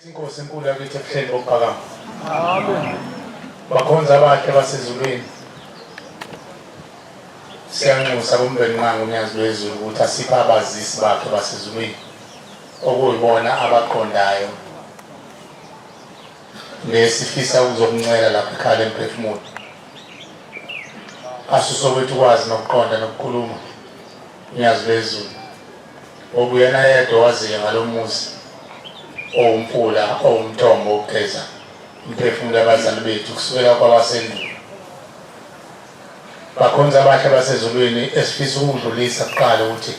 Inkosi enkulu yakithi ebuhleni bokuphakama. Amen. Bakhonza abahle basezulwini. Siyanxusa kumbeni nqanga unyazi lwezulu ukuthi asiphe abazisi bakhe basezulwini okuyibona abaqondayo nesifisa ukuzokuncela lapho ikhala emphefumulo asuse kwethu ukwazi nokuqonda nokukhuluma unyazi lwezulu Okuyena yedwa owaziyo ngalo muzi owumfula owumthombo wokugeza umphefumulo abazali bethu kusukela kwabasendulo bakhonza abahle basezulwini esifisa ukudlulisa kuqala ukuthi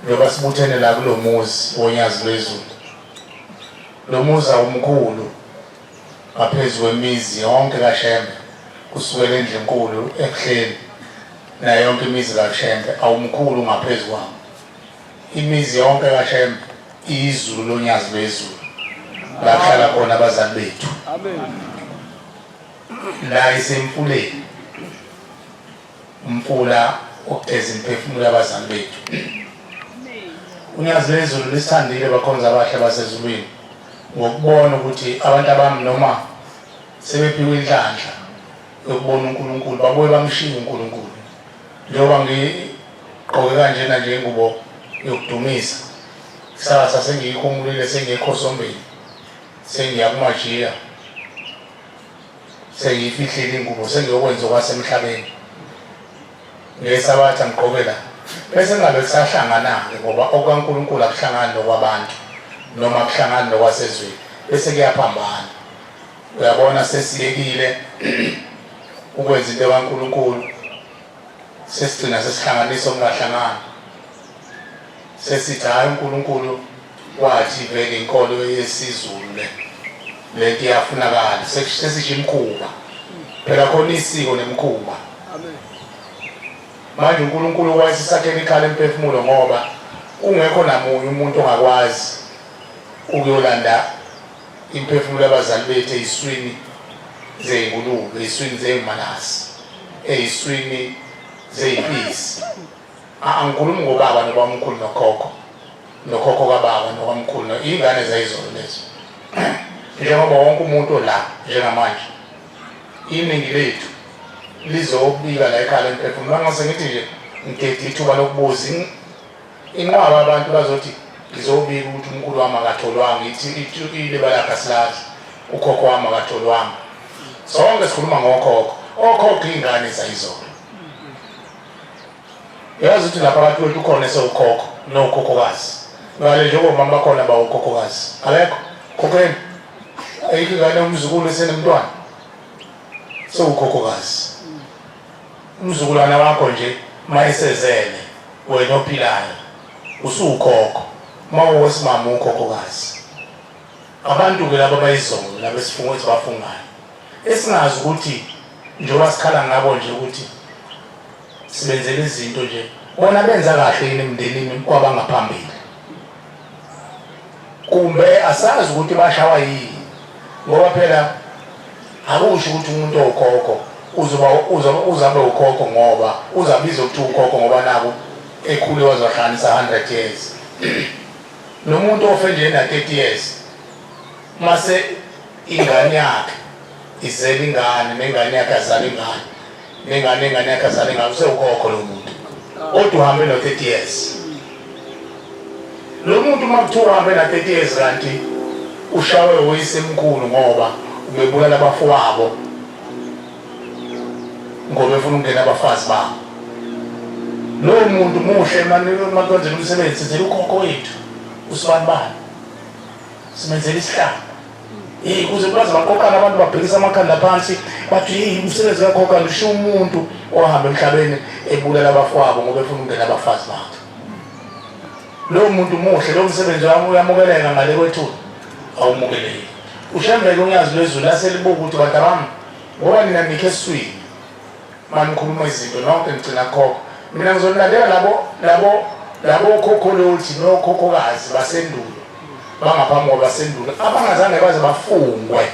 njengoba sibuthene la kulo muzi wonyazi lwezulu lo muzi awumkhulu ngaphezu kwemizi yonke kashembe kusukela endlinkulu ekuhleni nayo yonke imizi kaShembe awumkhulu ngaphezu kwami imizi yonke kaShembe izulu lonyazi lwezulu lahlala khona abazali bethu la isemfuleni umfula ogeza imiphefumulo yabazali bethu unyazi lwezulu lisithandile bakhonza abahle basezulwini ngokubona ukuthi abantu abami noma sebephiwe inhlanhla yokubona uNkulunkulu babuye bamshiye uNkulunkulu njengoba ngigqoke kanjena nje ingubo yokudumisa kusasa sengiyikhumulile sengekho sombeni sengiya kumajiya sengiyifihlile ingubo sengiyokwenza okwasemhlabeni ngesabatha ngigqoke la bese ngabe kusahlangana-ke ngoba okukankulunkulu akuhlangani nokwabantu noma kuhlangani nokwasezweni bese kuyaphambana Uyabona sesiyekile ukwenza into kaNkulunkulu sesigcina sesihlanganisa okungahlangani sesithi hhayi uNkulunkulu wathi vele inkolo yesiZulu le lento iyafunakala sesisho imkhuba phela khona isiko nemkhuba manje uNkulunkulu wayesisakhela ikhala emphefumulo ngoba kungekho namunye umuntu ongakwazi ukuyolanda Imphefumulo yabazali bethu eyiswini zeyingulube, eyiswini zeyimalasi, eyiswini zeyipisi. Angikhulumi ngobaba nobamkhulu nokhokho nokhokho kababa nokamkhulu no ingane zayizolo lezo njengoba wonke umuntu la njengamanje iningi lethu lizobika la ekhaya lemphefumulo ngase ngithi nje ngikhethe ithuba lokubuza Inqwaba abantu bazothi ngizobika ukuthi umkhulu wami akatholwanga ithukile balakha silazi ukhokho wami akatholwanga sonke sikhuluma ngokhokho okhokho iy'ngane zayizona yazi ukuthi lapha abantu wethu ukhona esewukhokho nowukhokhokazi ngale njengomama bakhona bawukhokhokazi alekho khokheni ayikho ingane umzukulu esenemntwana sewukhokhokazi Umzukulwana wakho nje mayesezele wena ophilayo usukhokho mawowesimama ukhokhokazi abantu ke laba bayizolo labesifungo esibafungayo esingazi ukuthi njengoba sikhala ngabo nje ukuthi sibenzele izinto nje bona benza kahle yini emndenini kwabangaphambili kumbe asazi ukuthi bashawa yini ngoba phela akusho ukuthi umuntu owukhokho uzoba uzabe ukhokho ngoba uzabiza ukuthi ukhokho ngoba naku ekhule wazohlanisa 100 years nomuntu ofe nje na 30 years mase ingane yakhe izela ingane nengane yakhe azala ingane nengane ingane yakhe azale ngayo usewukhokho lo muntu kodwa uhambe no-30 years lo muntu uma kuthiwa uhambe na-30 years kanti ushawe woyisemkhulu ngoba ubebulala abafowabo ngoba efuna ukungena abafazi babo lowo muntu muhle makwenzela umsebenzi sizela ukhokho wethu usibani bani simenzela isihlanga Hey kuze kwaze baqoqana abantu babhekisa amakhanda phansi bathi hey umsebenzi kakhokha ngisho umuntu ohamba emhlabeni ebulala abafowabo ngoba efuna ukungena abafazi bakhe. Lowo muntu muhle lo msebenzi wami uyamukeleka ngale kwethu awumukeleki. Ushembeke unyazi lwezulu laselibuka ukuthi bantabami ngoba nina nikhe eswini mani khuluma izinto nonke ngigcina khokho mina ngizonilandela labo labo labo khokholoti nokhokhokazi basendulo bangaphambi kwabasendulo abangazange baze bafungwe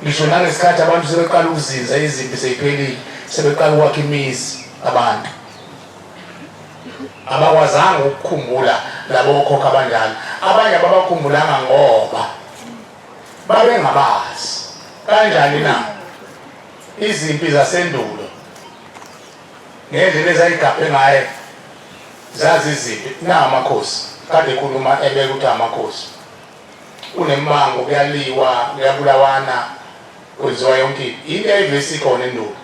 ngisho nangesikhathi abantu sebeqala ukuzinza izimpi seyiphelile sebeqala ukwakha imizi abantu abakwazanga ukukhumbula labo khokho abanjalo abanye ababakhumbulanga ngoba babengabazi kanjani na izimpi zasendulo ngendlela ezayigaphe ngaye zaziziphi na amakhosi kade khuluma ebeka ukuthi amakhosi kunembango kuyaliwa kuyabulawana kwenziwa yonke into yayivesikhona endulo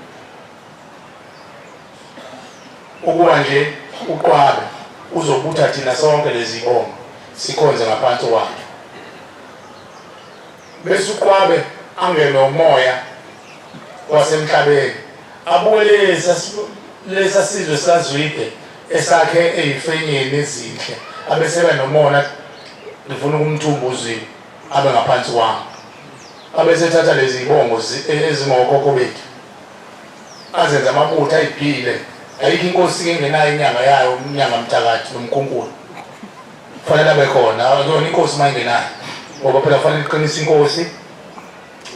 ukuba nje uqwabe uzobutha thina sonke lezibongo sikhonze ngaphansi kwakhe bese uqwabe angene umoya wasemhlabeni abukele lesa sizwe sazwide esakhe eyifenyeni ezinhle abeseba nomona ngifuna ukumthumba uzwile abe ngaphansi kwami abesethatha lezi bongo e-, ezingokhokho bethu azenze amabutho ayiphile ayikho inkosi engenayo inyanga yayo umnyanga mthakathi nomkhunkulu kufanele abe khona akuyona inkosi uma ingenayo ngoba phela kufanele iqinise inkosi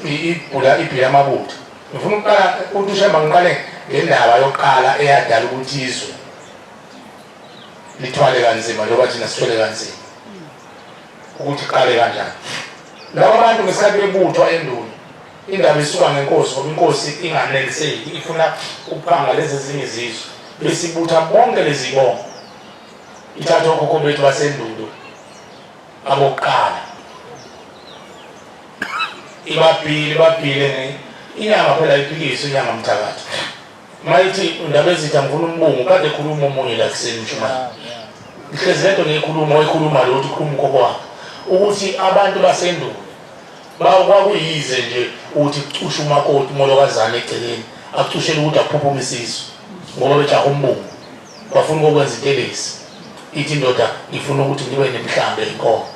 ibhula ibhila amabutho ngifuna ukuqala ukuthi ushemba ngiqale ngendaba yokuqala eyadala ukuthi izwe lithwale kanzima njengoba thina sithwele kanzima ukuthi qale kanjani laba bantu ngesikhathi bebuthwa enduni Indaba isuka ngenkosi ngoba inkosi inganeliseki ifuna ukuphanga lezi ezinye izizwe bese ibutha bonke lezi bongo ithatha okhokho bethu basendulo abokuqala ibabhile ibabhile inyanga phela iphikiswe inyanga mthakathi mayithi ndaba ezitha ngifuna umbungu kade ekhuluma omunye la kuseni mshumayeli ngihlezi lento ngiyikhuluma oyikhuluma lo uthi khuluma ukhokho wakhe ukuthi abantu basendulo Bawo kwakuyize nje ukuthi kucushe umakoti umolokazana egcekeni akucushele ukuthi aphuphume isizwe ngoba bejaha umbungu bafuna ukokwenza intelezi ithi indoda ngifuna ukuthi ngibe nemhlambe inkomo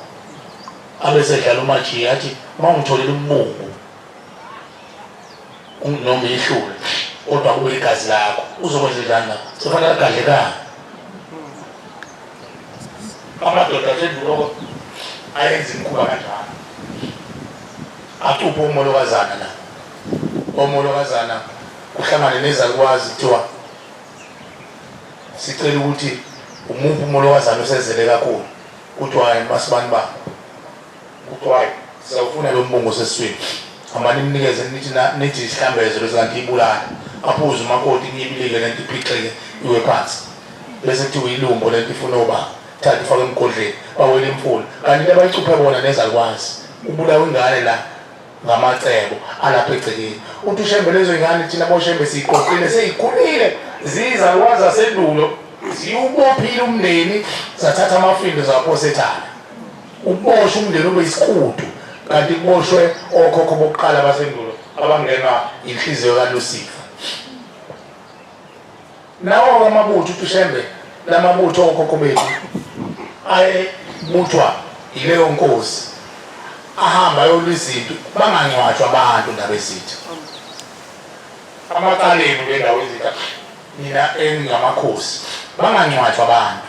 abesedlala umajiya athi uma ungitholele umbungu noma ihlule kodwa kube igazi lakho uzokwenza njani lapho sofanele agadlekanga amadoda aseduloko ayenza imikhuba kanjalo acuphe umolokazana la omolokazana kuhlangane nezalukwazi kuthiwa sicela ukuthi umuphi umolokazana osezele kakhulu kuthiwa masibani babo Kuthiwa siyawufuna lo mbungu osesiswini. Hambani nimnikeze nithi na- nithi isihlambeze bese kanti ibulala. Aphuze umakoti inyibilike le nto iphixeke iwe phansi. Bese kuthiwa ilumbo le nto ifuna obaba. Thatha ifake emgodleni bawele imfula. Kanti into abayicuphe bona nezalukwazi. Kubulawa ingane la ngamacebo alapha egcekeni. Uthi uShembe lezo ingane thina boShembe siyiqoqile seyikhulile ziyizalukwazi zasendulo ziwubophile umndeni zathatha amafindo zaphosa ethana. Ukuboshwa umndeni ube isikutu kanti kuboshwe okhokho bokuqala basendulo abangenwa inhliziyo kaLusifa. Nawo amabutho uTushembe lamabutho okhokho bethu ayebuthwa yileyo nkosi ahamba ayolwa izinto bangangcwatshwa abantu ndabezitha amaqaleni bendawo ezitha nina engamakhosi bangangcwatshwa abantu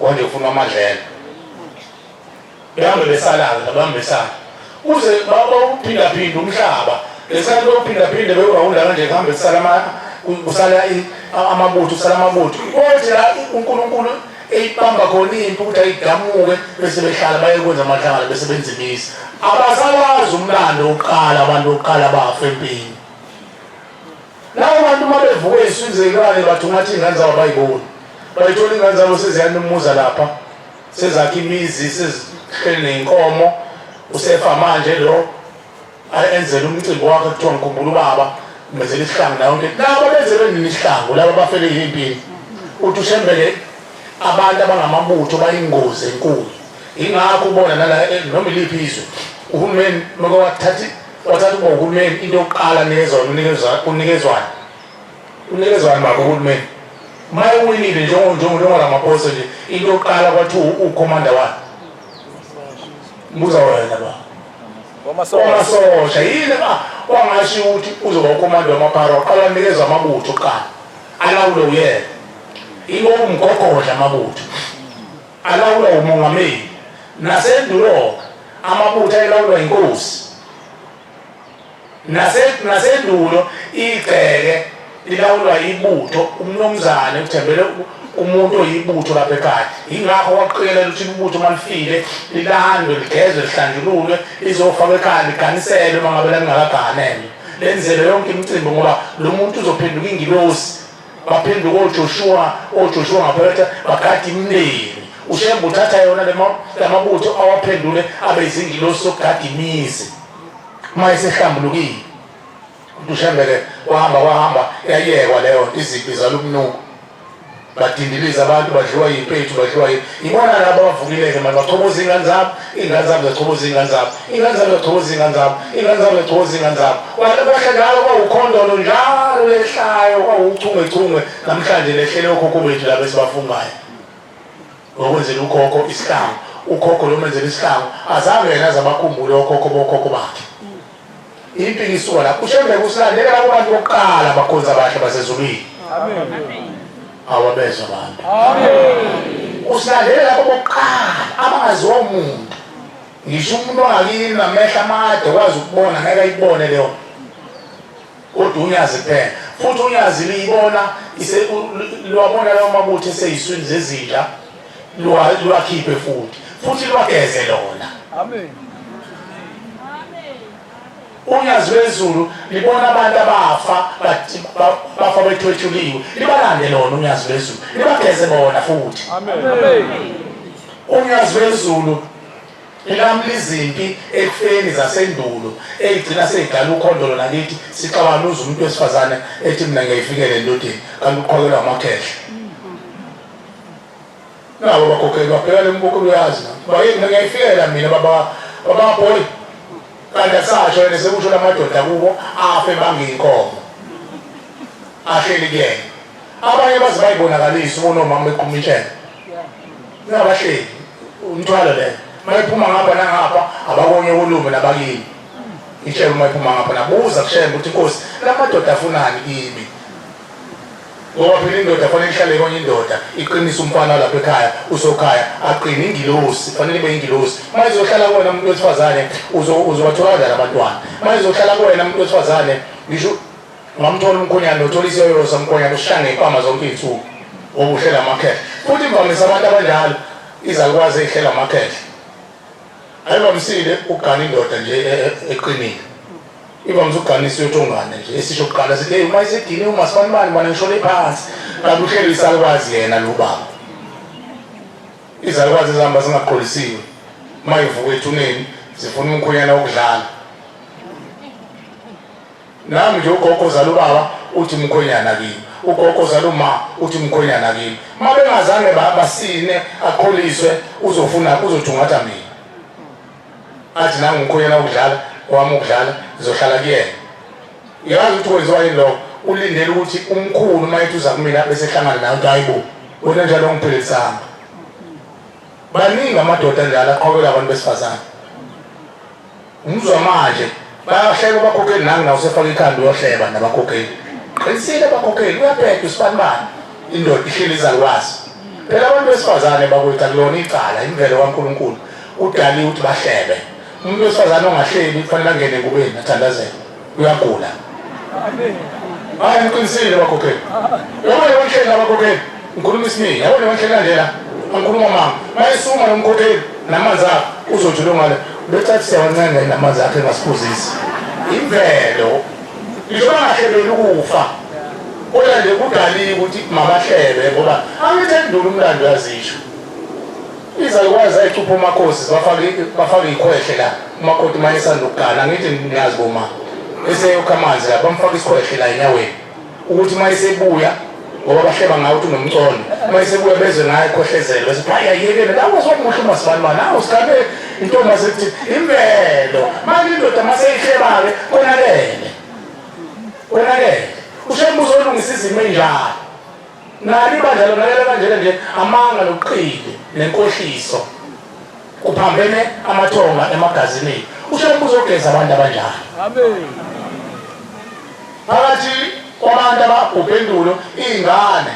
Konje ufuna amadlela. Behambe besalaza babambisana. Uze baba uphinda phinda umhlaba. Lesikhathi bawuphinda phinda bewurawunda kanje kuhambe kusala ama kusala amabutho kusala amabutho. Konje la uNkulunkulu eyibamba khona impi ukuthi ayidamuke bese behlala bayekwenza amahlangano bese benza imizi abasawazi umlando uqala abantu oqala bafa empini Labo bantu uma bevuka ey'swini zey'lwane bathungatha iy'ngane zabo bayiboni bayithola iy'ngane zabo seziyanumuza lapha sezakha imizi sezihleli ney'nkomo usefa manje lo enzela umcimbi wakhe kuthiwa ngikhumbula ubaba menzela isihlangu nayo nto laba benze benini isihlangu laba bafele yimpini uthi ushembele abantu abangamabutho bayingozi enkulu yingakho ubona nala eh, noma iliphi izwe uhulumeni maka wathatha Wathatha uba uhulumeni into yokuqala anikezona unikezwani unikezwani baba uhulumeni uma ewinile njengoramaphosa nje into yokuqala kwathi ukhomanda wani mbuza wena ba wamasosha yini ba wangasho ukuthi uzoba ukhomanda wamaphara waqala nikeza amabutho kuqala alawule uyena ibo umgogodla amabutho alawulwa ngumongameli nasendulo amabutho elawulwa inkosi nasendulo igceke lilawulwa ibutho umnumzane uthembele umuntu oyibutho lapha ekhaya yingakho waqikelela ukuthi ibutho uma lifile lilandwe ligezwe lihlanjululwe lizofakwa ekhaya liganiselwe uma ngabe lalingakaganelwe lenzelwe yonke imicimbi ngoba lo muntu uzophenduka ingilosi baphenduka oJoshuwa oJoshuwa ngaphethe bagada imindeni ushembe uthatha yona lamabutho awaphendule abe izingilosi sokugada imizi uma esehlambulukile uthi ushembeke wahamba wahamba yayekwa leyo izimpi zalumnuko badindiliza abantu badliwa yimpethu badliwa yibona labo abavukileke manje bachoboza iy'ngane zabo Ingane zami ziyachoboza iy'ngane zami, iy'ngane zami ziyachoboza iy'ngane zami, iy'ngane zami ziyachoboza iy'ngane zami. Kwale kwehla njalo kwawukhondolo njalo lehlayo kwawuchungechunge namhlanje lehlele okhokho bethu laba esibafungayo. Ngokwenzela ukhokho isihlangu, ukhokho lo menzela isihlangu azange yena aze abakhumbule okhokho bokhokho bakhe. Iqiniso la kushembe kusilandela labo bantu bokuqala abakhonza abahle basezulwini. Amen. Awabezwa abantu. Amen. Usilandela labo bokuqala abangaziwa umuntu. Ngisho umuntu ongakini namehla amade kwazi ukubona ngeke ayibone leyo. kodwa unyazi kuphela futhi unyazi liyibona liwabona lawo mabutho eseyiswini zezinja liwakhiphe futhi futhi liwageze lona unyazi lwezulu libona abantu abafa bafa bethwetshuliwe libalande lona unyazi lwezulu libageze bona futhi unyazi lwezulu Ilambu lizimpi ekufeni zasendulo eyigcina seyidala ukhondolo nakithi sixawanuza umuntu wesifazane ethi mina ngiyayifikela endodeni kanti uqhokelwa amakhehla nabo bakhokheli babheka le mbukulu uyazi bayeni mina ngiyayifikela mina baba bababhoyi kanti asasho yena sekusho la madoda kubo afe bangiyinkomo ahleli kuyena abanye baze bayibonakalise unomama eqhuma intshela Uyabahleli umthwalo le. Mayiphuma ngapha nangapha abakonye kulume labakini. Ishebe mayiphuma ngapha nabuza kushembe ukuthi inkosi lamadoda afunani kimi. Ngoba phela indoda kufanele ihlale konye indoda iqinisa umfana lapha ekhaya usokhaya aqine ingilosi kufanele ibe ingilosi mayizohlala kuwena umuntu wesifazane uzobathola kanjani abantwana mayizohlala kuwena umuntu wesifazane ngisho Ungamthola umkhonyana uthola iseyolo samkhonyana ushange ipama zonke iy'nsuku okuhlela amakhehla futhi imvamisa abantu abanjalo izalukwazi ey'hlela amakhehla ayivamisile ukugana indoda nje e, e, eqinile ivamisa ukugana isiyothongane nje esisho kuqala sithi eyi uma isedine umasibani bani ngishole phansi kanti uhlelo isalukwazi yena lo baba izalukwazi ezihamba zingaqolisiwe uma ivuka ethuneni zifuna umkhonyana wokudlala Nami nje ugogo ozala ubaba uthi mkhwenyana kimi ugogo ozala uma uthi mkhwenyana kimi uma bengazange basine akholiswe uzofuna uzothungatha mina athi nangu mkhwenyana ukudlala wami ukudlala ngizohlala kuyena uyazi ukuthi kwenziwa yini lokho ulindele ukuthi umkhulu uma ethi uza kumina bese ehlangana nayo ukuthi hayi bo wena njalo ngiphilisanga baningi amadoda njalo aqhobela abantu besifazane Umuzwa manje bayahleka bakhokheli nami nawo sefaka ikhanda uyohleba nabakhokheli qinisile bakhokheli uyabheda usibanibani indoda ihleli izalukwazi phela abantu besifazane bakwethu akulona icala imvelo kankulunkulu udaliwe ukuthi bahlebe umuntu wesifazane ongahleli kufanele angene engubeni athandazele uyagula hayi ngiqinisile bakhokheli yabona abanhleli abakhokheli ngikhuluma isiningi yabona abanhleli kandlela angikhuluma mama mayesuma nomkhokheli namanzi akho uzothi longale becathisa kancane namanzi akhe engasiphuzisi imvelo ngisho bangahlebeli ukufa kodwa nje kudaliwe ukuthi mabahlebe ngoba angithandi umlando yazisho Izalukazi zayicupha umakhosi zibafake bafake ikhwehle la umakoti uma esanda ukugana angithi niyazi boma eseyokha amanzi la bamfaka isikhwehle la enyaweni ukuthi uma esebuya ngoba bahleba ngawo ukuthi unomcono uma esebuya bezwe ngayo ekhohlezelwe sibhaya yekele la kwasokuhle uma sibanibani awu sigabe intombi asethi imvelo manje indoda uma seyihleba-ke konakele konakele ushembuzo olungisa izimo enjalo Nali ibandla lonakele kanjena nje amanga nobuqili nenkohliso kuphambene amathonga emagazineni usho umbuzo ogeza abantu abanjani phakathi kwabantu ababhubhe endulo iy'ngane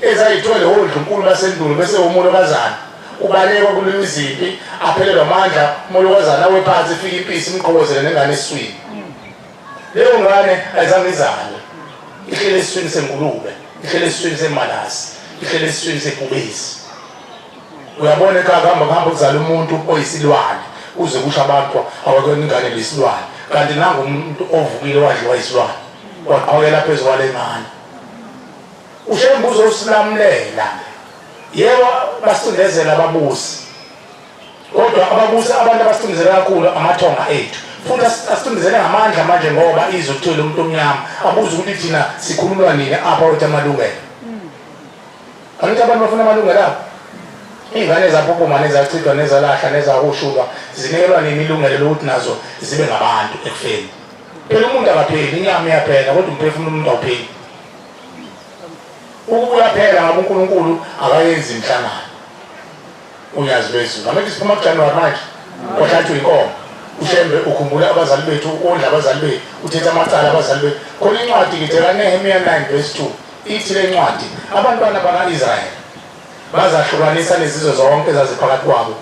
ezayithwele wondlunkulu basendulo bese womulo kazana ubalekwa kulula izimpi aphelelwa amandla umolokazana wephansi ifika impisi imqhokozele nengane eswini leyo ngane ayizange izalwe ihlele esiswini sengulube ihlele esiswini semalasi ihlele esiswini sebhubesi uyabona ekhaya kuhamba kuhamba kuzala umuntu oyisilwane uze kusho abantu awakona ingane lesilwane kanti nangu umuntu ovukile wadliwa isilwane waqhokela phezu kwale ngane ushembuzo usilamulela yebo basindezela ababusi Kodwa ababusi abantu abasicindezela kakhulu amathonga ethu futhi asicindezele ngamandla manje ngoba izwe kuthiwe lo muntu omnyama abuze ukuthi thina sikhululwa nini apha wethi amalungelo angithi abantu bafuna amalungelo abo iy'ngane zaphupuma nezachithwa nezalahla nezakushulwa zinikelwa nini ilungelo lokuthi nazo zibe ngabantu ekufeni phela umuntu akapheli inyama iyaphela kodwa umphefumulo umuntu awupheli ukubuya phela ngabe unkulunkulu akayenzi inhlangano Unyazi lwezulu. Ngamanje siphuma kuJanuwari manje. Kwahlatshwa inkomo. Ushembe ukhumbula abazali bethu, ondla abazali bethu, uthetha amacala abazali bethu. Khona incwadi ngithi kaNehemiya 9 verse 2. Ithi le ncwadi, abantwana baka-Israyeli bazahlukanisa nezizwe zonke ezaziphakathi kwabo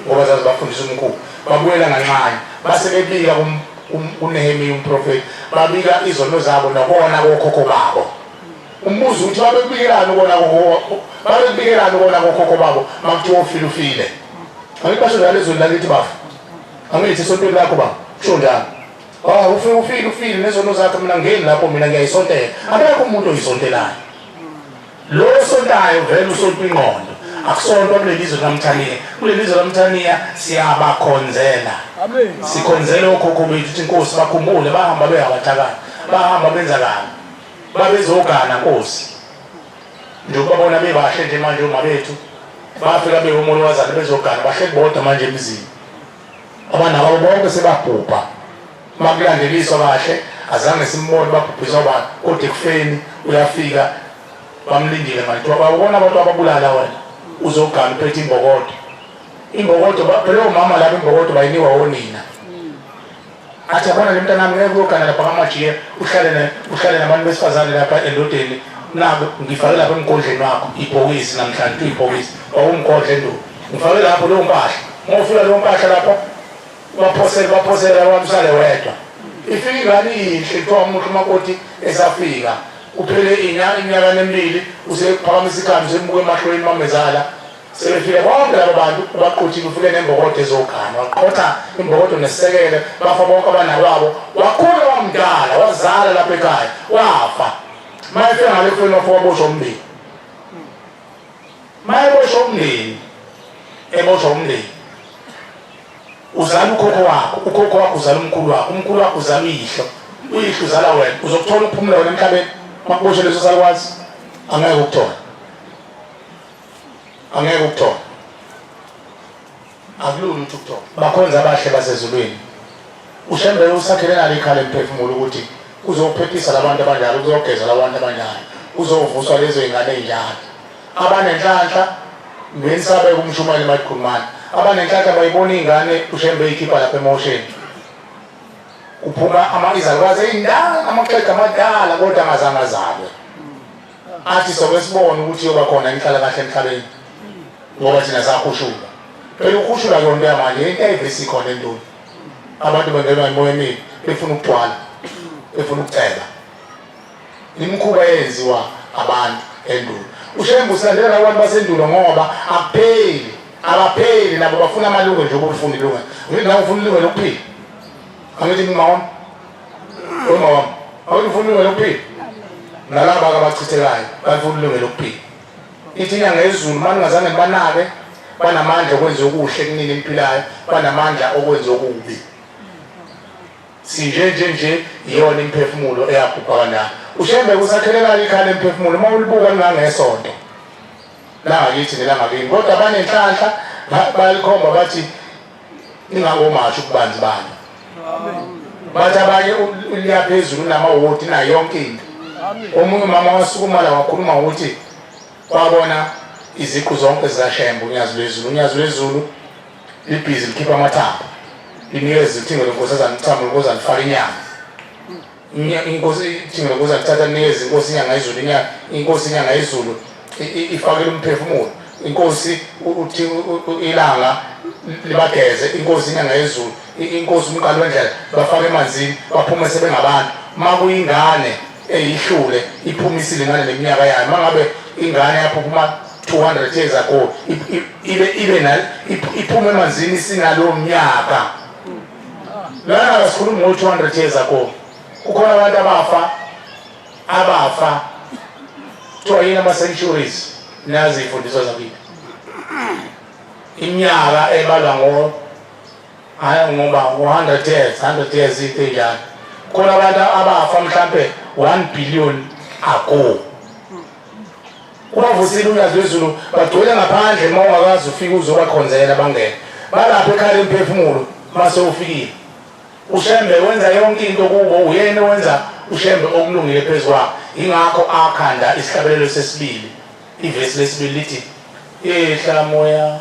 ngoba zazibafundisa umkhulu. Babuyela nganxanye. Base bebika kuNehemiya umprofethi. Babika izono zabo nokona kokhokho babo. umbuzo ukuthi babekubikelani kona babekubikelani kona kokhokho babo makuthiwa ufile ufile angibasho njalo ezweni lakithi bafo angithi esontweni lakho baba kusho njalo Ah ufike ufike ufike nezono zakhe mina ngeni lapho mina ngiyayisontela akekho umuntu oyisontelayo lo osontayo vele usonta ingqondo akusontwa kuleli zwe lamthaniya kuleli zwe lamthaniya siyabakhonzela sikhonzela okhokho bethu ukuthi inkosi bakhumbule bahamba beyabathakala bahamba benza kabi babezogana nkosi njengoba bona bebahle nje manje uma bethu bafika bewumolo wazana bezogana bahle bodwa manje emzini abanabo bonke sebabhubha makulandeliswa kahle azange simbone babhubhiswa abantu kodwa ekufeni uyafika bamlindile manje kuthiwa bawubona abantu ababulala wena uzogana uphethe imbokodo imbokodo phela omama laba imbokodo bayinikwa wonina athi yabona le mntanami ngeke uyogana lapha ngamajiya uhlale ne uhlale nabantu besifazane lapha endodeni nako ngifake lapha emgodleni wakho ibhokisi namhlanje tu ibhokisi wawumgodle ndu ngifake lapho leyo mpahla ngofika leyo mpahla lapha baphosele baphosele abantu sale wedwa ifika ingane iyinhle kuthiwa umuntu umakoti esafika kuphele inyanga iminyaka nemibili usephakamisa ikhanda usembuka emahlweni mamezala Sebefike bonke labo bantu baquthile ufike nembokodo ezogana waqotha imbokodo nesekele bafa bonke abana babo wakhula wamdala wazala lapha ekhaya wafa mayefika ngale kufeni wafa waboshwa umndeni mayeboshwa umndeni eboshwa umndeni uzala ukhokho wakho ukhokho wakho uzala umkhulu wakho umkhulu wakho uzala uyihlo uyihlo uzala wena uzokuthola ukuphumula wena emhlabeni makuboshwe leso salwazi angeke ukuthola angeke ukuthola akulula ukuthi ukuthola bakhonza abahle basezulwini ushembele usakhele nalo ikhala emphefumulo ukuthi uzophephisa labantu abanjalo uzogeza labantu abanjalo uzovuswa lezo ingane ey'njalo abanenhlanhla nensabeko umshumayeli mayiqhumana abanenhlanhla bayibona iy'ngane ushembe eyikhipha lapha emosheni kuphuma izalukwazi ey'ndala amaxhega amadala kodwa angazange azalwe athi soke sibone ukuthi yoba khona inhlalakahle emhlabeni ngoba thina sakhushulwa phela ukhushulwa ke onto yamanje into ayivesi khona entoni abantu bengenwa imoya emibi befuna ukugcwala befuna ukuceba imikhuba eyenziwa abantu endulo ushembe usilandela nabantu basendulo ngoba akupheli abapheli nabo bafuna amalungelo njengoba ufuna ilungelo ngithi nawe ufuna ilungelo lokuphila angithi ngingawona Umama awulifuni ilungelo lokuphila nalaba abachithekayo balifuna ilungelo lokuphila. Ithi inyanga yezulu maningazange banake banamandla okwenza okuhle kunini emphilayo banamandla okwenza okubi sinje nje nje iyona imphefumulo eyabhubha kanjalo ushembe kusakhelekala ikhaya lemphefumulo uma ulibuka lingangesonto langakithi nelangakini kodwa banenhlanhla balikhomba bathi ingakomasho ukubanzi bani bathi abanye uliya phezulu unamawoti nayo yonke into omunye umama wasukumala wakhuluma ukuthi kwabona iziqu zonke zikashembe unyazi lwezulu unyazi lwezulu libhizi likhipha amathanga linikeza izithingo lenkosi ezanithamo ukuze alifake inyama inkosi thina kuza kuthatha neze inkosi inyanga izulu inyanga inkosi inyanga izulu ifakele umphefumulo inkosi uthi ilanga libageze inkosi inyanga yezulu inkosi umqali wendlela bafake emanzini baphume sebengabantu uma kuyingane eyihlule iphumisile ngale leminyaka yayo uma ngabe ingane yaphuphuma 200 years ago ibe ibe iphume emanzini sinalowo mnyaka lana sikhuluma ngo 200 years ago kukhona abantu abafa abafa kuthiwa yini ama-centuries nazi iy'fundiso zakithi iminyaka ebalwa ngo ngoba ngo-hundred years hundred years into enjalo khona abantu abafa mhlampe one billion ago Kwavusile uNyazizulu bagcwele ngaphandle uma ungakazi ufike uzobakhonzela bangene balapho ekhala imphefumulo mase ufikile ushembe wenza yonke into kubo uyena wenza ushembe okulungile phezu kwabo yingakho akhanda isihlabelelo sesibili ivesi lesibili lithi ihla moya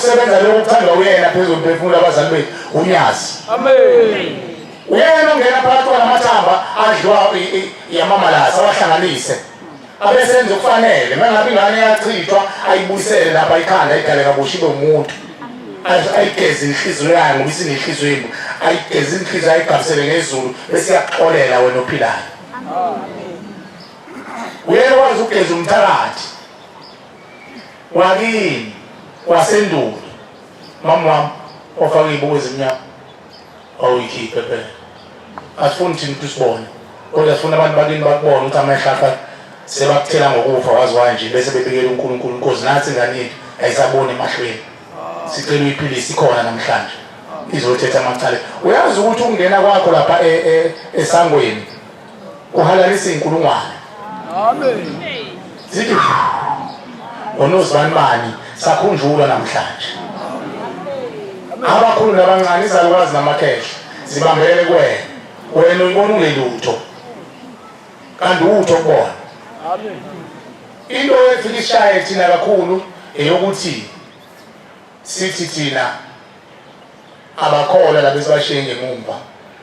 ukusebenza lokho kuthandwa uyena phezulu mphefumulo abazali bethu unyazi uyena ongena phakathi kwalamathambo adliwa yamamalasa awahlanganise abesenza okufanele mangabe ingane yachithwa ayibuyisele lapha ikhanda ayidale kabusha ibe umuntu ayigeze inhliziyo yayo ngoba isinenhliziyo imbi ayigeze inhliziyo ayigabisele ngezulu bese iyakuxolela wena ophilayo uyekwazi ukugeza umthakathi wakini wasendulo mama wami ofaka iy'buko ezimnyama wawuyikhiphe phela asifuni thina ukuthi usibone kodwa sifuna abantu bakini bakubona ukuthi amahlapha sebakuthela ngokufa wazi wanje bese bebikela unkulunkulu inkosi nathi ingane yethu ayisaboni emahlweni sicela uyiphilise ikhona namhlanje izothetha amacala uyazi ukuthi ukungena kwakho lapha e, e, esangweni uhalalisa inkulungwane amen sithi ngonozibanibani sakhunjulwa namhlanje abakhulu nabancane izalukazi namakhehla zibambelele kuwena wena uyibona ungelutho kanti utho kubona amen Into efika ishaye thina kakhulu eyokuthi sithi thina abakholwa laba esibashiye ngemumva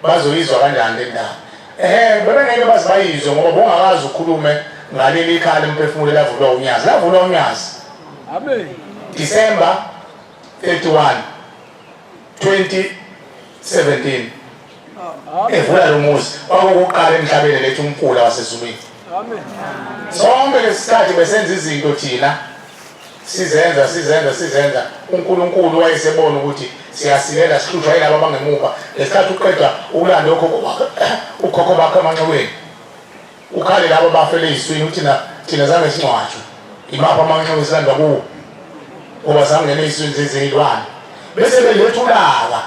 bazoyizwa kanjani le ndaba ehe bebengeke baze bayizwe ngoba bongakazi ukhulume ngaleli ikhaya lomphefumulo elavulwa unyazi lavulwa unyazi amen december 31 2017 evula lo muzi kwakukuqala emhlabeni lethu umfula wasezulwini sonke lesikhathi besenza izinto thina sizenza sizenza sizenza uNkulunkulu wayesebona ukuthi siyasilela sihlushwa yilabo abangemuva ngesikhathi uqeda ukulanda ukhokho bakho amanxiweni Ukhale labo bafele iziswini ukuthi na thina zange singcwatshwe. Imaphi amanxiwa esilandwa kuwo? Ngoba zangena iziswini zezilwane. Bese belethulaka.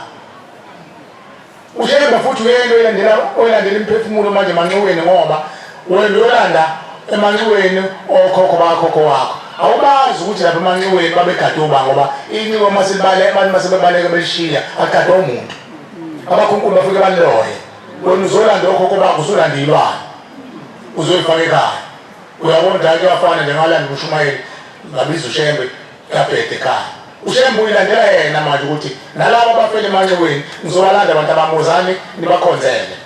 Ushembe futhi uyena oyilandela oyilandela imiphefumulo manje manxiweni ngoba wena uyolanda emanxiweni okhokho bakhokho wakho. Awubazi ukuthi lapha emanxiweni babegade uba ngoba inxiwa uma silibale abantu uma sebebaleke belishiya agadwa umuntu. Abakhunkulu bafike baloye. wena uzolanda okhokho bakho usulande ilwane uzoyifaka ekhaya uyabona dala kuyafana nje ngalanda umshumayeli ngabiza ushembe kabhede ekhaya ushembe uyilandela yena manje ukuthi nalabo abafela emanxiweni ngizobalanda abantu abamuzani nibakhonzele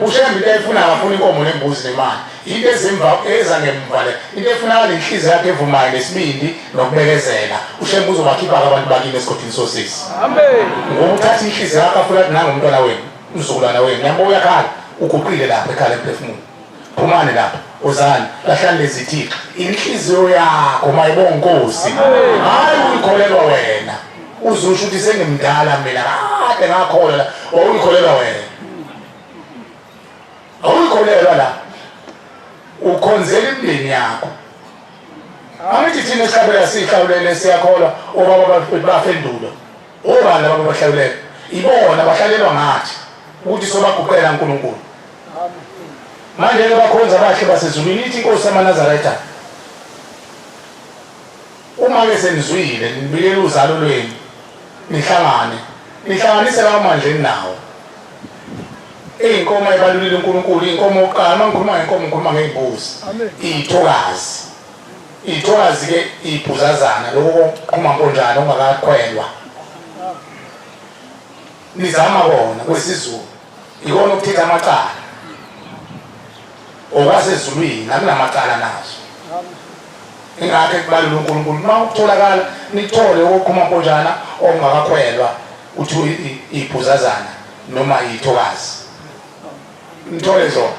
ushembe into ayifuna akafuna inkomo nembuzi nemali Into ezimva eza ngemva le. Into efunakala inhliziyo yakhe evumayo nesibindi nokubekezela. UShembe uzobakhipha abantu bakini esigodini sosisi. Amen. Ngoba uthatha inhliziyo yakho afuna ukuthi nangomntwana wenu, umzukulwana wenu. Niyabo uyakhala, uguqile lapha ekhala emphefumulo. Phumani lapha. Uzani, lahlani lezi thixo. Inhliziyo yakho mayibonga inkosi. Hayi uyikholelwa wena. Uzusho ukuthi sengimdala mina. Kade ngakholwa. Wawuyikholelwa wena. awuyikholelwa la ukhonzela imndeni yakho angithi thina esihlabela sihlawulele siyakholwa obaba bafendulo obani laba bahlawulele ibona bahlalelwa ngathi ukuthi sobaguqela uNkulunkulu manje ke bakhonza abahle basezulwini ithi inkosi yamanazaretha Uma-ke senizwile, nibikele uzalo lwenu, nihlangane, nihlanganise lawo mandla eninawo. Iy'nkomo ayibalulile uNkulunkulu, iy'nkomo okokuqala. Uma ngikhuluma ngey'nkomo, ngikhuluma ngey'mbuzi, iy'thokazi. Iy'thokazi-ke iy'bhuzazana, lokho kokuqhuma mponjana okungakakhwelwa, nizama kona kwesiZulu. Ikona ukuchitha amacala okwasezulwini nakunamacala nazo ingakho ekubalula uNkulunkulu uma ukutholakala nithole okukhuma mponjana okungakakhwelwa uthi iphuzazana noma ithokazi nithole zona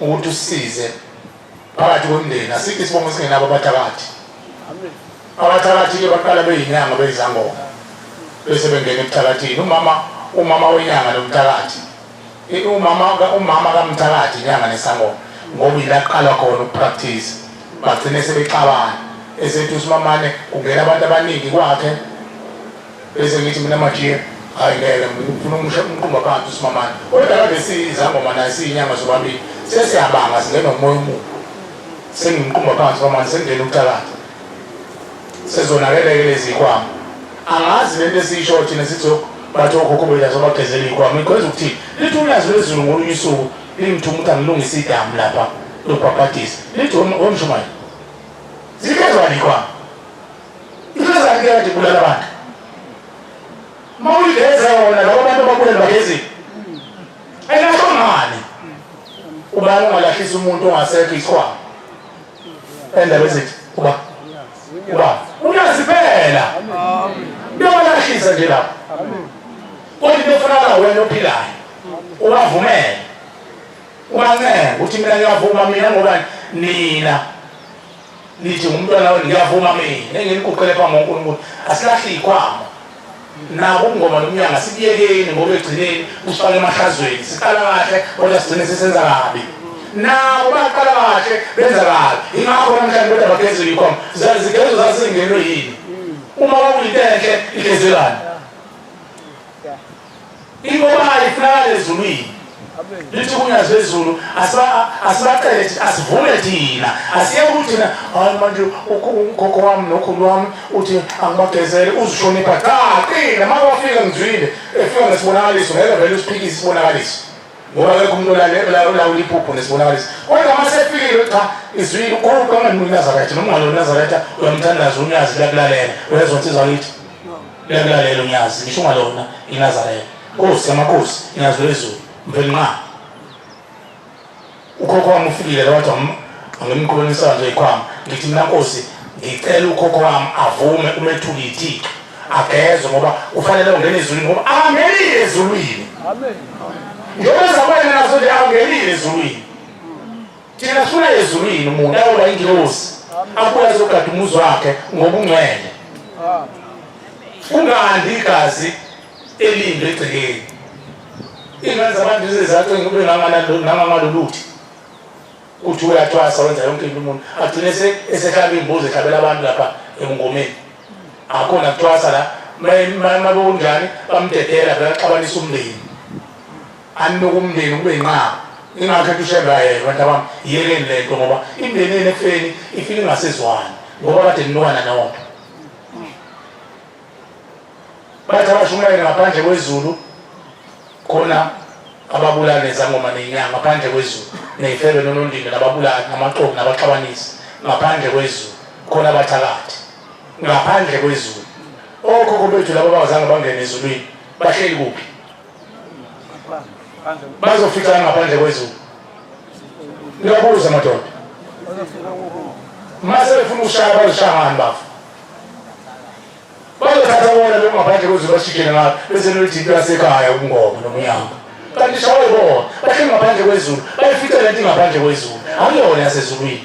ukuthi usize phakathi kwemndeni asikho isibongo esingenabo abathakathi abathakathi-ke baqala beyinyanga beyizangoma bese bengena ebuthakathini umama umama wenyanga nomthakathi umama umama kamthakathi inyanga nesangoma ngoba ilaqala khona ukupractice bagcine sebexabana esethi usimamane kungena abantu abaningi kwakhe bese ngithi mina majiya hayi ngeke ngifuna umusha umqumba phansi usimamane kodwa kade siyizangoma naye siyinyanga zobabili sesiyabanga singena umoya omubi sengimqumba phansi kwamanje sengingena ukuthakatha sezonakeleke lezi yikwama angazi lento esiyisho thina sithi bathi okhokho bethu asobagezela iyikwama ikhweza ukuthi lithi ulwazi lwezulu ngolunye usuku lingithuma ukuthi angilungise idamu lapha lobhabhadisa lithi womshumayeli zikezwa likwama Inyazakela nje kulala abantu. Mawuyiveze wona labo bantu abakulelwa ngezi. Elakho ngani? Ubani ongalahlisa umuntu ongasekho isikhwama? Endaba ezithi uba uba uyazi phela. Uyabalahlisa nje lapho. Kodwa into efunakala wena ophilayo. Ubavumele. Ubancenge ukuthi mina ngiyavuma mina ngoba nina nithi ngumntwana wenu ngiyavuma mina engiliguqele phambi konkulunkulu asilahle ikhwama nabo ukungoma nomnyanga sikuyekeni ngoba egcineni usifake emahlazweni siqala kahle kodwa sigcine sisenza kabi nabo baqala kahle benza kabi ingakho namhlanje kodwa bagezela ikhwama zigezo zazingenwe yini uma kwakuyinto enhle igezelani Ingoba ayifunakala ezulwini. Lithi ukunya zezulu asibacele asivume thina asiyeke ukuthi thina hayi manje ukhokho wami nokhulu wami uthi angibagezele uzihlonipha cha qina uma wafika ngizwile efika ngesibonakaliso ngeke vele usiphikise isibonakaliso ngoba akekho umuntu olawula iphupho nesibonakaliso kodwa uma sefikile cha izwile ukhulu kwanganinazaraytha nomngalo nazaraytha uyamthandaza unyazi lakulalela uyezwa nsizwa kithi Liyamlalela uNyazi, ngisho ngalona iNazareth. Nkosi yamakhosi, iNyazi lwezulu, mveli nqa. Ukhokho wami ufikile la wathi wam- angimqhulunisa nje ikhwama. Ngithi mina Nkosi, ngicela ukhokho wami avume umethuke ithixo. Agezwe ngoba ufanele ungena ezulwini ngoba angenile ezulwini. Njengoba zakwena nazo nje angenile ezulwini. Thina sifuna ezulwini umuntu ayoba ingilosi abuye azogada umuzi wakhe ngobungcwele. Kungandi igazi elinde egcekeni. Ingane zabantu zizacinga kube nangamaluluthi uthi uyathwasa wenza yonke into umuntu agcine esehlaba imbuzi ehlabela abantu lapha emngomeni akhona kuthwasa la mabekunjani bamdedela bekaxabanisa umndeni aninuka umndeni kube yinqaba ingakho ethi ushembe ayeke bantu abami yekeni le nto ngoba imndeni yenu ekufeni ifike ingasezwani ngoba kade ninukana nonke bathi abashumayeli ngaphandle kwezulu khona ababulali nezangoma nenyanga ngaphandle kwezulu neyifebe nonondindwa nababulali namaxoki nabaxabanisi ngaphandle kwezulu khona abathakathi ngaphandle kwezulu okhokho bethu laba bangazange bangene ezulwini bahleli kuphi bazofikana ngaphandle kwezulu ngiyabuza madoda mase befuna ukushaya bazoshangani bafo bazothatha bona lokhu ngaphandle kwezulu bashikele ngalo bese nolithi into yasekhaya ubungoma nomnyama kanti shawe bona bahleli ngaphandle kwezulu bayifica le nto ingaphandle kwezulu akuyona yasezulwini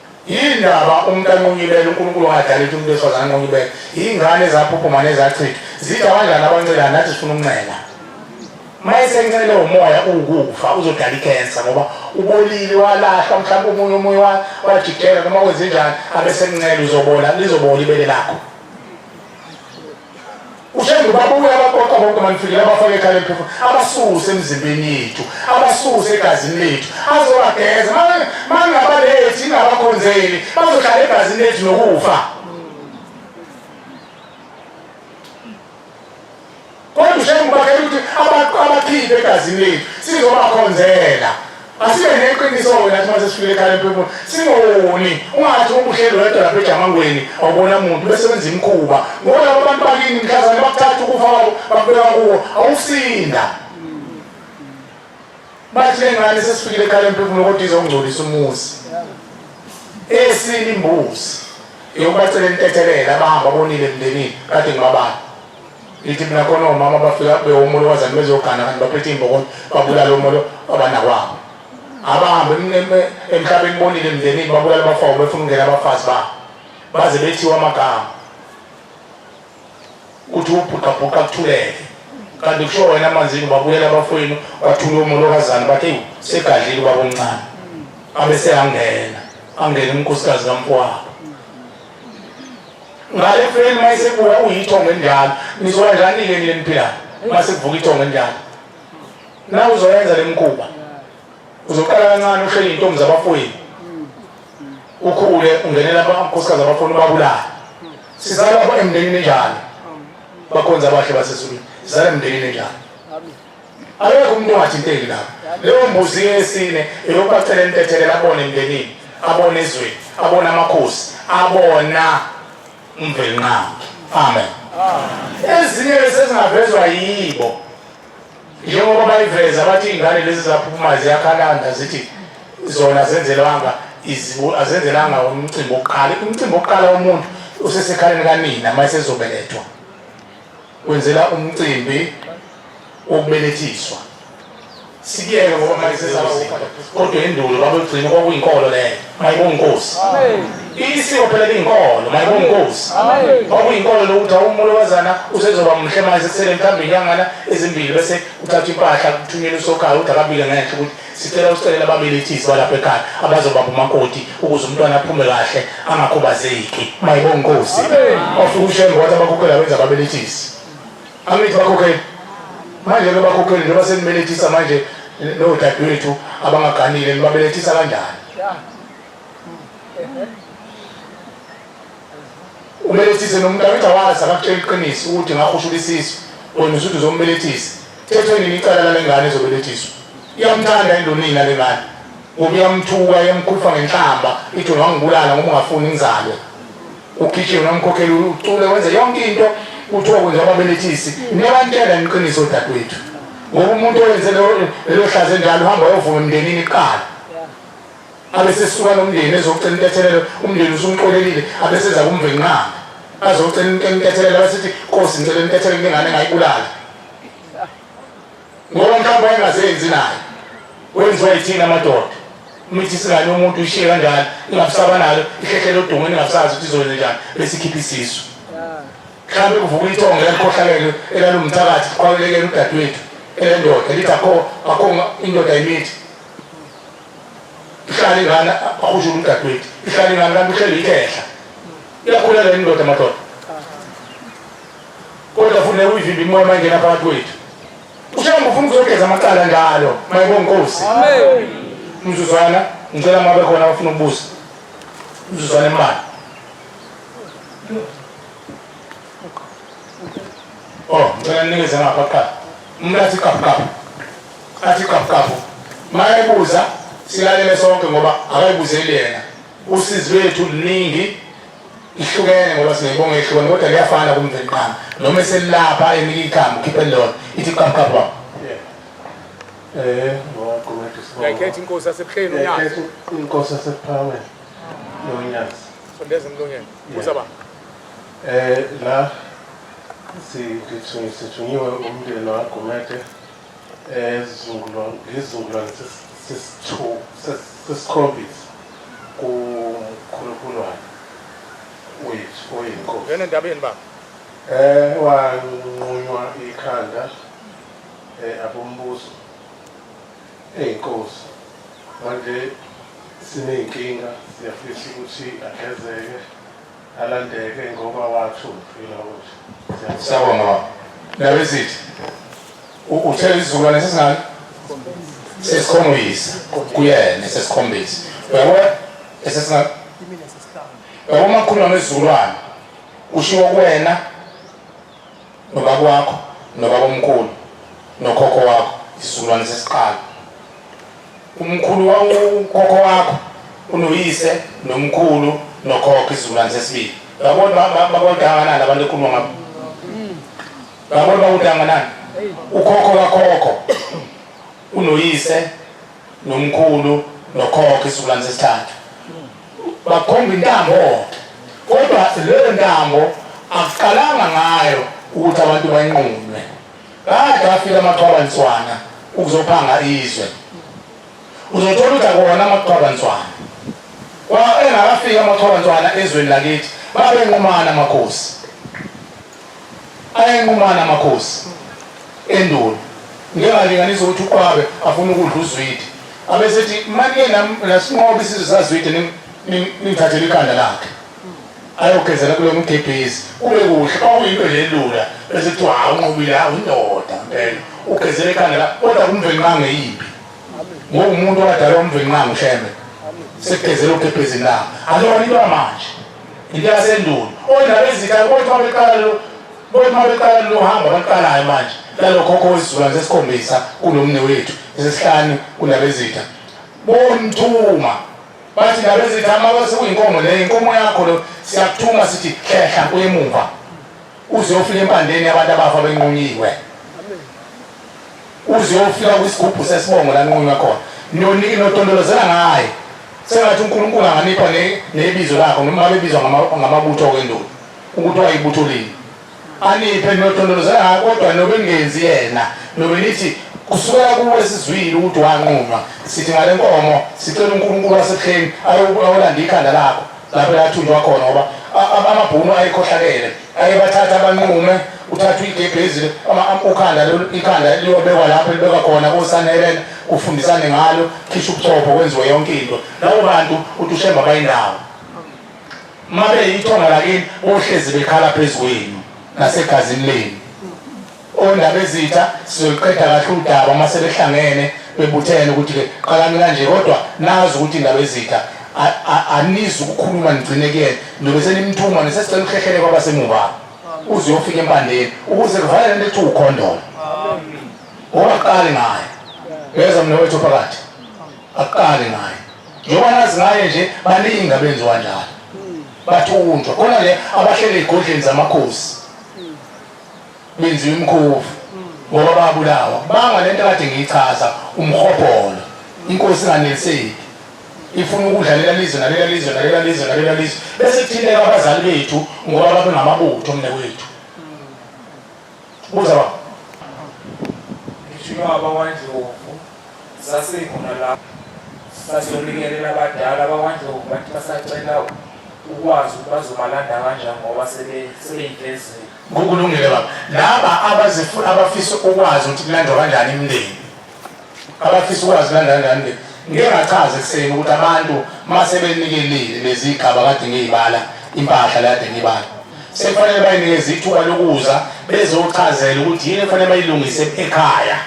Yini ndaba umuntu anqunyibele uNkulunkulu angadali ukuthi umuntu wesifazane anqunyibele? Yingane ezaphuphuma nezachithwa. Zithi abadlali abancela nathi sifuna ukunxela. Uma esenxele umoya uwukufa uzodala ikhensa ngoba ubolile walahlwa mhlawumbe umunye omunye wajikela noma wenze njani abesenxele uzobola lizobola ibele lakho. ushengu babuye abaqoqa bonke banifikele abafake ekhaya emphefumulo abasuse emzimbeni yethu abasuse egazini lethu azobageza mangabalethi ingabakhonzeli bazohlala egazini lethu nokufa kodwa ushengu bakhele ukuthi abakhiphe egazini lethu sizobakhonzela Asibe neqiniso wena athi mase sifike ekhaya emphefumulo singoni ungathi ubuhleli wedwa lapha ejamangweni awubona muntu bese wenza imikhuba ngoba labo bantu bakini mhlazane bakuthatha ukufa kwabo bakubeka kuwo awusinda bathi le ngane sesifikile ekhaya emphefumulo kodwa izongcolisa umuzi esini imbuzi yokubacelela intethelela abahamba bonile emndenini kade ngibabani ithi mina khona omama bafika bewomolo wazani bezogana kanti baphethe iy'mbokolo babulala omolo abanakwabo abahambe emhlabeni bonile emndenini babulala abafawo befuna ukungena abafazi babo baze bethiwa amagama kuthi ubhuqabhuqa kuthuleke kanti kusho wena amanzini babuyela abafowenu bathule omolokazana bathi ewu segadlile ubaba omncane abese angena angena umkhosikazi kamfowabo ngale feni uma isebuya uyithongo enjalo nizoba njani-ke nile niphilayo uma sekuvuka ithongo enjalo na uzoyenza le mkhuba uzoqala kancane ushele iy'ntombi zabafowenu ukhule ungenela amakhosikazi abafowenu ubabulale sizalapho emndenini enjalo bakhonza abahle basesulwini sizala emndenini enjalo Akekho umuntu ongathinteki lapho. Leyo mbuzi yesine eyokubacela intethelelo abone emndenini, abone ezweni, abone amakhosi, abona umvelinqangi. Amen. Ezinye esezingavezwa yibo njengoba bayiveza bathi iy'ngane lezi zaphuma ziyakhalanda zithi zona zenzelwanga azenzelanga umcimbi wokuqala umcimbi wokuqala womuntu usesekhaleni kanina uma esezobelethwa kwenzela umcimbi wokubelethiswa sikuyeke ngoba manje sesizawusinda kodwa endulo babegcina kwakuyinkolo leyo mayibonkosi isiko phela liyinkolo mayibonkosi kwakuyinkolo lokuthi awumulo wazana usezoba muhle manje sekusele mhlawumbe inyangana ezimbili bese uthatha impahla kuthunyela usokhaya ukuthi akabile ngenhla ukuthi Sicela ukusekela ababelethisi balapha ekhaya abazobamba umakoti ukuze umntwana aphume kahle angakhubazeki. Mayibonga inkosi. Ofika ushenge wathi abakhokheli abenza ababelethisi. Angithi bakhokheli. Manje ke bakhokheli njengoba senibelethisa manje nodadewethu abangaganile nibabelethisa kanjani? Ubelethise nomuntu angithi awazi akakutshela iqiniso ukuthi ngakho ushula isisu wena usuthi uzombelethisa. Thethwe nini icala lale ngane ezobelethiswa? Iyamthanda yini lonina le ngane? Ngoba iyamthuka iyamkhulupha ngenhlamba ithi ungangibulala ngoba ungafuni ngizalwe. Ukhishile unamkhokhela ucule wenze yonke into kuthiwa kwenziwa ababelethisi. Niyabantshela niqiniso odadewethu ngoba umuntu owenze lelo hlaze njalo uhamba uyovuma emndenini kuqala abesesuka nomndeni ezocela intethelelo umndeni usumxolelile abeseza kumvenqanga azocela intethelelo abesithi nkosi ngicela intethelelo ngengane engayibulala ngoba mhlawumbe wayengazenzi naye wenziwa yithina amadoda mithi singane umuntu ishiye kanjalo ingabusaba nalo ihlehlele odongweni ingabusazi ukuthi izokwenze njani besikhiphe isisu mhlawumbe kuvuka ithongo elalukhohlakele elalumthakathi kuqhawulekele udadewethu elendoda lithi akho akho indoda yimithi ihlale ngani akhushe umdadwethu ihlale ngani kanti uhleli ikhehla iyakhula le ndoda madoda kodwa funeka uyivimbe imoya mayingena phakathi kwethu ushamba ufuna ukuzogeza amacala njalo mayibonkosi mzuzwana ngicela mabe khona abafuna ukubuza mzuzwana imali Oh, ngicela ninikeze ngapha kuqala. Umuntu athi kafukafu. Athi kafukafu. Mayebuza silalele sonke ngoba akayibuzeli yena. Usizi lwethu luningi ihlukene ngoba sinebonga ehlukene kodwa liyafana kumvenqana. Noma eselapha enika ikhambi ukhiphe lona. Ithi kafukafu. Eh, ngoqhubeka isibongo. Ngekhetha inkosi yasebuhleni uNyazi. Inkosi yasebuhleni uNyazi. Sondeza emlonyeni. Buza baba. Eh la sithunyiwe umndeni waGumede ezungulwa ngizungulwa sesithu sesikhombisa kukhulukhulu wakhe wethu oyinkosi. Ngene ndabeni baba. Eh wanqunywa ikhanda eh abombuso eyinkosi. Manje sineyinkinga siyafisa ukuthi agezeke alandeke ngoba wathunfila ukuthi siyabonga baba nabesithi uthe isizukulwane sesingane sesikhombisa kuyena sesikhombisa uyabona esesingane uyabona makhuluma nesizukulwane kushiwo kuwena nobaba wakho nobaba omkhulu nokhokho wakho isizukulwane sesiqala umkhulu wawukhokho wakho unoyise nomkhulu nokhokho isizukulwane sesibili yabona babonke anganani abantu ekhuluma ngabo yabona bakuthi anganani ukhokho kakhokho Unoyise nomkhulu nokhokho isizukulwane sesithathu bakhomba intambo kodwa leyo ntambo akuqalanga ngayo ukuthi abantu bayinqunywe kade afika amaqhwabantswana ukuzophanga izwe uzothola ukuthi akuwona amaqhwabantswana engakafika amaqhwabantswana ezweni lakithi babenqumana amakhosi ayanqumana amakhosi endulo ngeke alinganise ukuthi uqwabe afuna ukudla uzwidi abesethi manje nasinqoba isizwe sazwide ningithathele ikhanda lakhe ayogezela kulo mgebhezi kube kuhle kwakuyinto nje elula bese kuthiwa hawu unqobile hawu indoda mpela ugezela ikhanda lakhe kodwa kumvenqange yimbi ngokumuntu wadala umvenqange ushembe sekugezela ugebhezini lakhe alona into yamanje into yasendulo ondaba ezitha bothi uma beqala lo bothi uma beqala lo hamba baqalayo manje lalokhokho wesizukulwane sesikhombisa kulomne wethu esesihlanu kundaba ezitha bomthuma bathi ndaba ezitha uma sekuyinkomo leyo inkomo yakho lo siyakuthuma sithi hlehla kuyemuva uze ufike empandeni abantu abafa benqunyiwe uze uyofika kwisigubhu sesibongo laninqunywa khona notondolozela ngaye sengathi unkulunkulu anganipha nebizo lakho noma ngabe ebizwa ngamabutho okwendulo ukuthi wayibutho lini aniphe notondolozela ngayo kodwa nobe ningenzi yena nobe nithi kusukela kuwe sizwile ukuthi wanqunywa sithi ngale nkomo sicela unkulunkulu wasebuhleni ayolanda ikhanda lakho lapho yathunjwa khona ngoba amabhunu ayekhohlakele aye bathatha abanqume uthatha igebhezi ukhanda ikhanda liyobekwa lapho libekwa khona kosanelena kufundisane ngalo khisha ubuchopho kwenziwe yonke into labo bantu uthi ushemba bayindawo uma beyithonga lakini bohlezi bekhala phezu kwenu nasegazini lenu Ondabezitha sizoyiqeda kahle udaba uma sebehlangene bebuthene ukuthi-ke qalani kanje kodwa nazi ukuthi Ndabezitha anizi ukukhuluma nigcine kuyena ndobe senimthuma nesesicela ukuhlehlele kwabasemuva uze uyofika empandeni ukuze kuvale lento ethi ukhondolo owaqali ngayo yeza mna wethu phakathi akuqali ngayo njengoba nazi ngaye nje baningi abenziwa njalo bathunjwa khona le abahlele ey'godleni zamakhosi benziwa imkhovu ngoba babulawa kubanga le nto kade ngiyichaza umhobholo inkosi inganeliseki ifuna ukudla lela lizwe nalela lizwe nalela lizwe nalela lizwe bese kuthinteka abazali bethu ngoba babe ngamabutho mne wethu buza baba ngishilo abawandlovu sasekhona lapho sasiyonikelela abadala abawandlovu bathi basacela ukwazi ukuthi bazobalanda kanjani ngoba sebeyinhlezeli Kukulungile baba. Laba abazifu abafisa ukwazi ukuthi kulandwa kanjani imindeni. Abafisa ukwazi kulandwa kanjani imindeni. Ngike ngachaza ekuseni ukuthi abantu uma sebenikelile lezigaba kade ngiyibala impahla la kade ngiyibala. Sekufanele bayinikeze ithuba lokuza bezochazela ukuthi yini efanele bayilungise ekhaya.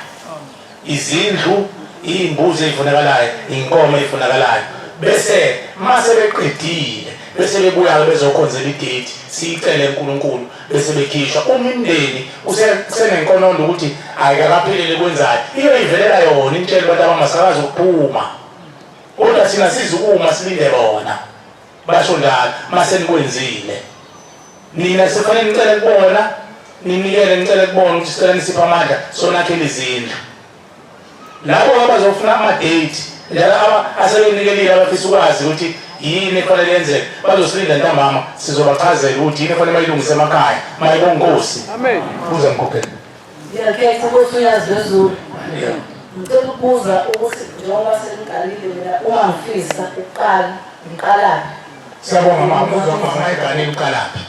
izindlu, iy'mbuzi ey'funakalayo, iy'nkomo ey'funakalayo. Bese uma sebeqedile bese bebuya-ke bezokhonzela idate, siyicele kuNkulunkulu bese bekhishwa. Uma imindeni kusenenkonondo ukuthi ayikakaphelele kwenzayo, iyoyivelela yona imtshele abantu abama sakazi ukuphuma, kodwa thina sizukuma silinde bona. basho njalo mase nikwenzile nina sefane nicele kubona ninikele nicele kubona ukuthi sicela nisiphe amandla sonakhele izindlu labo abazofuna amadate njalo asebenikelile abafisa ukwazi ukuthi yini efanele yenzeke bazosilinda ntambama sizobachazela ukuthi yini efanele bayilungise emakhaya mayebonkosi amen buze mkhokhela Ngiyakhetha ukuthi uyazi wezulu. Ngicela ukubuza ukuthi njengoba seniqalile mina uma ngifisa ukuqala ngiqalaphi? Siyabonga mama buza mama eganile uqalaphi?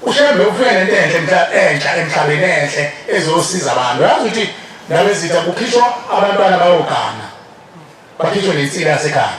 Ushembe ufike nento enhle mhla entsha emhlabeni enhle ezosiza abantu. Uyazi ukuthi nabezitha kukhishwa abantwana bayogana. Bakhishwe nensila yasekhaya.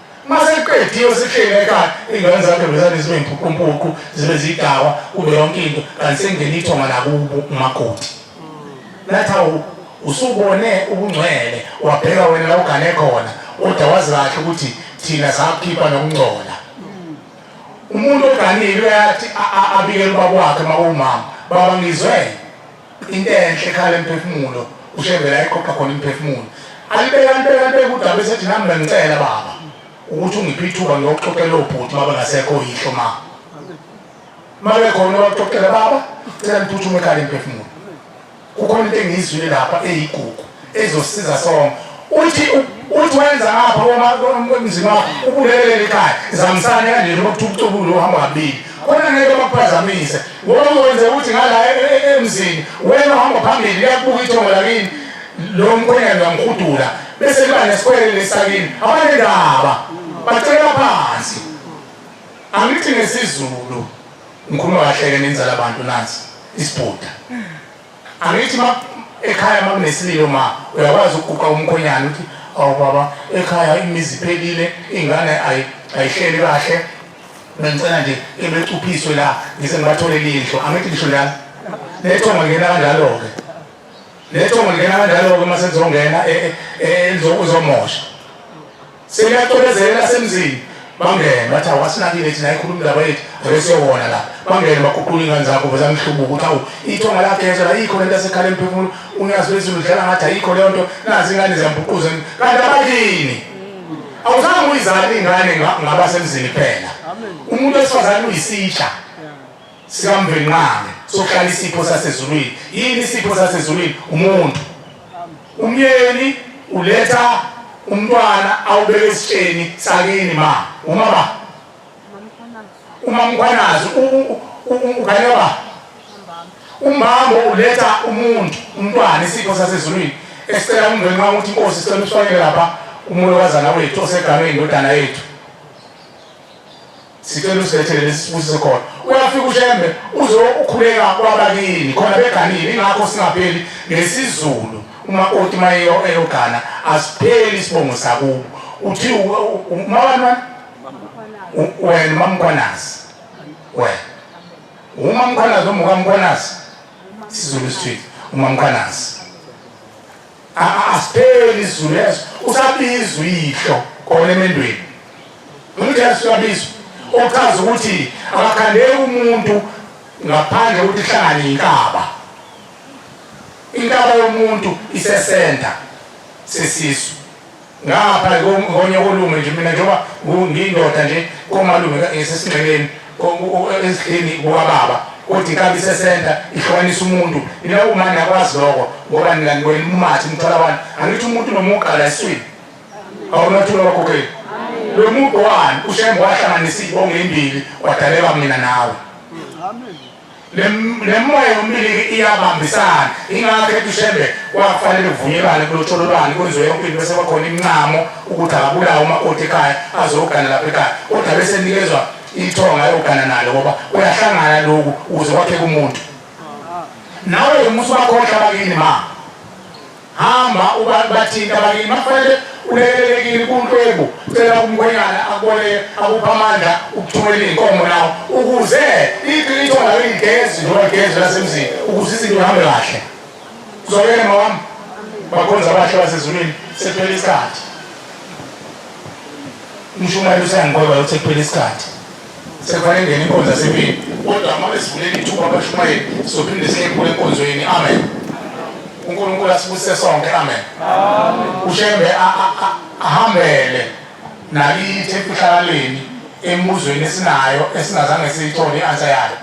uma sekuqediwe sekushiyene ekhaya iy'ngane zakhe bezane zibe mpuqumpuqu zibe zidakwa kube yonke into kanti sekungena ithonga nakubo umakoti nathi awu usubone ubungcwele wabheka wena la ugane khona kodwa wazi kahle ukuthi thina sakhipha nokungcola umuntu oganile uyathi abikele ubaba wakhe uma kuwumama baba ngizwele into enhle ekhala emphefumulo ushembela eqoqa khona imphefumulo alibeka alibeka alibeka udaba esethi nami bengicela baba ukuthi ungiphe ithuba ngiyoxoxela obhuti uma bengasekho yihlo ma uma bekhona bakuxoxela baba cela ngiphuthume ekhala emphefumulo kukhona into engiyizwile lapha eyigugu ezosiza sonke uthi uthi wenza ngapha komzima wakho ubulelele ikhaya zamisane kanje njengoba kuthiwa ubucubulu uhamba kabili khona ngeke bakuphazamise ngoba uzowenza ukuthi ngala e, e, e, emzini wena uhamba phambili liyakubuka ithongo lakini lo mkhwenyana uyamhudula bese liba nesikwele lesakini abanendaba bacela phansi angithi ngesizulu ngikhuluma kahleke nenzala abantu nansi isibhuda Angithi ma ekhaya uma kunesililo ma uyakwazi ukuguqa umkhonyana uthi awu baba ekhaya imizi iphelile ingane ayihleli kahle bengicela nje ebecuphiswe la ngise ngibatholele indlu angithi ngisho njalo lethongo lingena kanjalo-ke lethongo lingena kanjalo-ke uma selizongena e, e, e, uzomosha Sekuyacobezelela semzini bangene bathi awasinakile thina ikhuluma indaba yethu abesiyowona la bangene baguqula ingane zakho veza ngihlubuka ukuthi awu ithonga lagezwa la ikho lento asekhala emphefumulo unyazi lwezulu udlala ngathi ayikho leyo nto nazi ingane ziyambuquza kanti abakini awuzange uyizali ingane ngabasemzini kuphela umuntu wesifazane uyisitsha sikamvenqane sokuhlala isipho sasezulwini yini isipho sasezulwini umuntu umyeni uletha umntwana awubeke esitsheni sakini ma uma ba umamkhwanazi ukhanye ba umbambo uletha umuntu umntwana isipho sasezulwini esicela umndwenxa ukuthi inkosi sicela usifakele lapha umulokazana wethu oseganwe indodana yethu sicela usilethele nesifusise khona uyafika ushembe uzokhuleka kwabakini khona beganile ingakho singapheli ngesizulu umakoti uma eyogana asipheli isibongo sakubo uthi umabani wena umamkhwanazi wena umamkhwanazi omukamkhwanazi isizulu sithithi umamkhwanazi asipheli izulu leso usabiza uyihlo kona emendweni umjesu uyabiza ochaza ukuthi akakhandeki umuntu ngaphandle kokuthi ihlangane yinkaba inkaba yomuntu isesenta sesisu ngapha konye kolume nje mina njengoba ngiyindoda nje komalume esesingxeleni ezihleni kuwababa kodwa inkabi isesenta ihlukanisa umuntu ina uma niyakwazi lokho ngoba ningani mumathi umthola abantu angithi umuntu nomugqa la eswini awunathula wakhokheli lo mugqa wani ushembe wahlanganisa iy'bongo ey'mbili wadaleka mina nawe nemoya yomliliki iyabambisana ingakho etushembe kwakufanele kuvunyelwane kulotshololwane kwenziwe yonke into bese kwakhona imncamo ukuthi akabulawe umakoti ekhaya azogana lapha ekhaya kodwa bese nikezwa ithonga ayogana nalo ngoba uyahlangana loku ukuze kwakheke umuntu nawe musa bakhohlwa bakini ma hamba ubantu bathini abakini makufanele ulekelelekile kuntwebu cela umkhwenyana akubone akupha amandla ukuthumela iy'nkomo nawo ukuze iqiniso nayo igezi noma igezi lasemzini ukuze izinto ihambe kahle kuzokele mawami bakhonza abahle basezulwini sekuphela isikhathi umshumayeli useyangiqoba yokuthi kuphela isikhathi Sekufanele ngene inkonzo yasemini. Kodwa uma besivulela ithuba abashumayeli sophinde siyephula enkonzweni. Amen. UNkulunkulu asibusise sonke. Amen. UShembe ahambele nakithi emfihlakaleni emibuzweni esinayo esingazange siyithole i-answer yayo.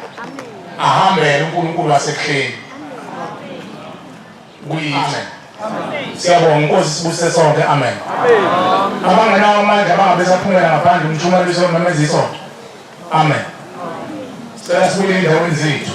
Ahambele uNkulunkulu wasebuhleni. kuyithe siyabonga inkosi sibuse sonke amen abangenawo amandla bangabe saphumela ngaphandle umshumayeliso nomemeza isonto amen sicela sibuye endaweni zethu